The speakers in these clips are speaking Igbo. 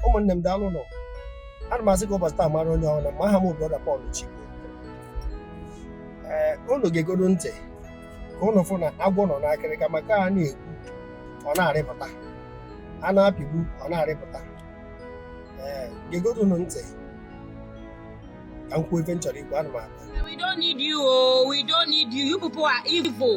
ụmụnne m daalụ nụ ana m asị ka ụbọchị taa mara onye ọbụna mma aha m bụ brọda Pọl Chigbo ee unu gegodu ntị ka unu fụ na agwọ nọ n'akịrịka maka a na-egbu ọ na-arịpụta a na-apịgbu ọ na-arịpụta ee gegodu nụ ntị ka m kwuo ife m chọrọ ikwu ana m abịa We don't need you, oh, we don't need you. You people are evil.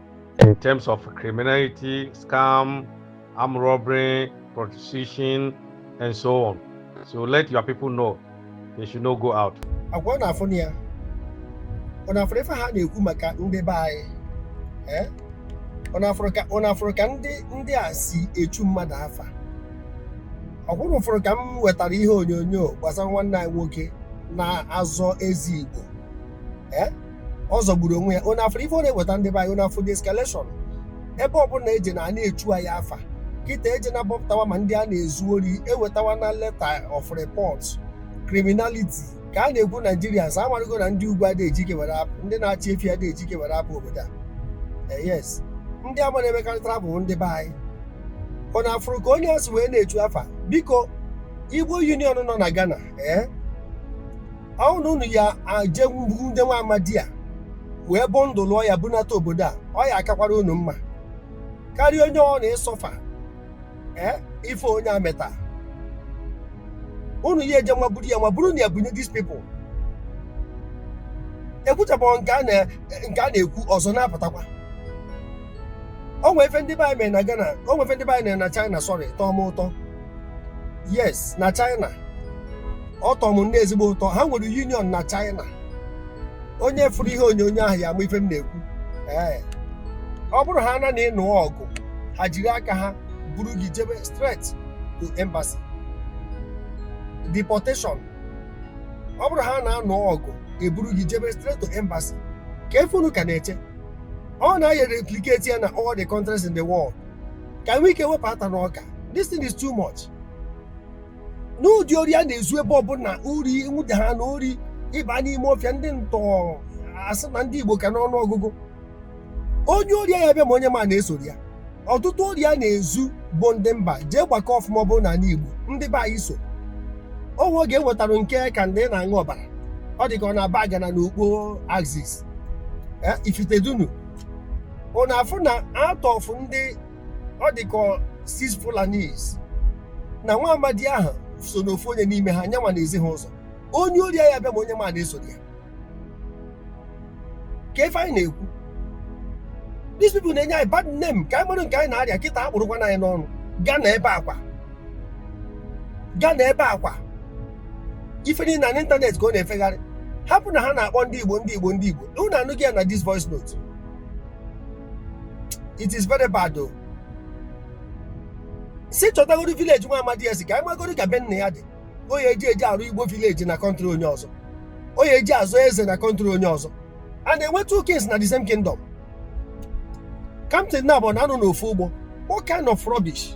in terms of criminality, scam, armed robbery, prostitution, and so on. So let your people know they should not go out. ọkwa unu afụna ya unu afụrụ ife ha na-ekwu maka ndị be anyị ee unu afụrụ ka unu afụrụ ka ndị ndị a si echu mmadụ afa ọkwa unu fụrụ ka m wetara ihe onyonyo gbasara nwanne anyị nwoke na-azọ eze igbo ee ọ zọgburu onwe ya unu afụrụ ife ọ na-eweta ndị be anyị unu afụrụ the escalation ebe ọbụla eje na a na-echu anyị afa kịta eje na bọpụtawa ma ndị a na-ezu ori ewetawa na letter of report criminality ka a na-ekwu Nigerians amarụgo na ndị ugwu adịghị ejike were apụ ndị na-achị efi adịghị ejike were apụ obodo a Eh, yes ndị ama na-emekarị travel ndị be anyị unu afụrụ ka onye a si wee na-echu afa biko igbo union nọ na ghana ee ọ bụrụ na unu ya-eje nwude nwa amadi a wee bọndụlụọ ya bunata obodo a ọ ya akakwara unu mma karịa onye ọbụna ịsọfa ee ife onye a meta unu ya eje nwa buru ya nwa buru nụ ya bunye these people ekwuchabeghị nke a na- nke a na-ekwu ọzọ na-apụtakwa o nwee ife ndị be anyị mere na Ghana o nwee ife ndị be anyị mere na China sọrị tọọ m ụtọ yes na China ọ tọrọ m nnọọ ezigbo ụtọ ha nwere union na China onye fụrụ ihe onyonyo ahụ ya ama ife m na-ekwu ee ọ bụrụ haa na ị nụọ ọgụ ha jiri aka ha buru gị jebe straight to embassy deportation ọ bụrụ haa na a nụọ ọgụ eburu gị jebe straight to embassy kee ife unu ka na-eche unu ya-e replicate ya na all the countries in the world ka e nwee ike wepụ ata n'ọka this thing is too much n'ụdị ori a na-ezu ebe ọbụla ori nwude ha na ori ị baa n'ime ọfịa ndị ntọ a sị na ndị igbo ka n'ọnụ ọgụgụ onye ori ya bịa ma onye ma na-esoro ya ọtụtụ ori a na-ezu bụ ndị mba jee gbakọ ọfụma ọ bụrụ na anị igbo ndị be anyị so o nwe oge e nwetara nke ka ndị na-aṅụ ọbara ọ dị ka ọ na Abagana na Ukpo axis Ifitedunu ọ na-afụ na out of ndị ọ dịka six Fulanis na nwa amadi ahụ so n'ofu onye n'ime ha nyanwa na-ezi ha ụzọ onye ori ya bịa ma onye ma na-esoro ya ka ife anyị na-ekwu these people na-enye anyị bad name ka anyị mara nke anyị na-arịa kịta akpụrụkwana anyị n'ọnụ Ghana ebe akwa Ghana ebe akwa ife niile na n'ịntanetị ka ọ na-efegharị hapụ na ha na-akpọ ndị igbo ndị igbo ndị igbo unu anụghị ya na this voice note it is very bad o si chọtagoro village nwa amadi ya si ka anyị magoro ka be nna ya dị o ya eji eji arụ Igbo village na country onye ọzọ o ya eji azọ eze na country onye ọzọ a na-enwe two kings na the same kingdom captain na abụọ na-anọ n'ofu ụgbọ what kind of rubbish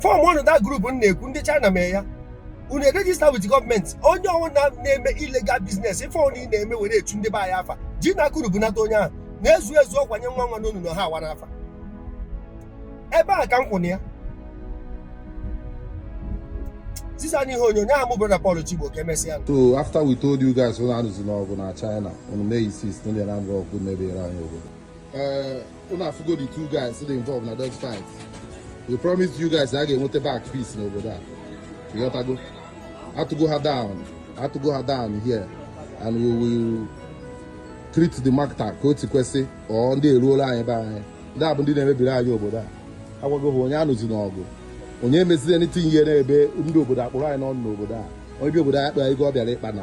form nụ that group m na-ekwu ndị China mee ya unu e-register with government onye ọbụla na-eme illegal business ife ọnụ ị na-eme were echu ndị be anyị afa ji na akụrụ bunata onye ahụ na-ezu ezu ọkwanye nwa nwa n'onu na ha awa n'afa ebe a ka m kwụna ya sisa n'ihe onyonyo ahụ mụ brọda Paul Chigbo ka emesịa nụ. So after we told you guys unu anụzina ọgụ na China unu mee insist na ndị Anambra ọgụ mebiere anyị obodo. Eh, Unu afụgo the two guys dị involved na that fight. We promise you guys a ga-enweta back peace n'obodo a. Ịghọtago? Atụgo ha down. Atụgo ha down here and we will treat the matter ka o si kwesị ọ ndị eruola anyị be anyị. Ndị a bụ ndị na-emebiri anyị obodo a. Agwago ha onye anụzina ọgụ. Onye emezina anything ihe na-eme ndị obodo akpụrụ anyị n'ọnụ n'obodo a. Onye bi obodo anyị akpa ego ọ bịara ịkpa na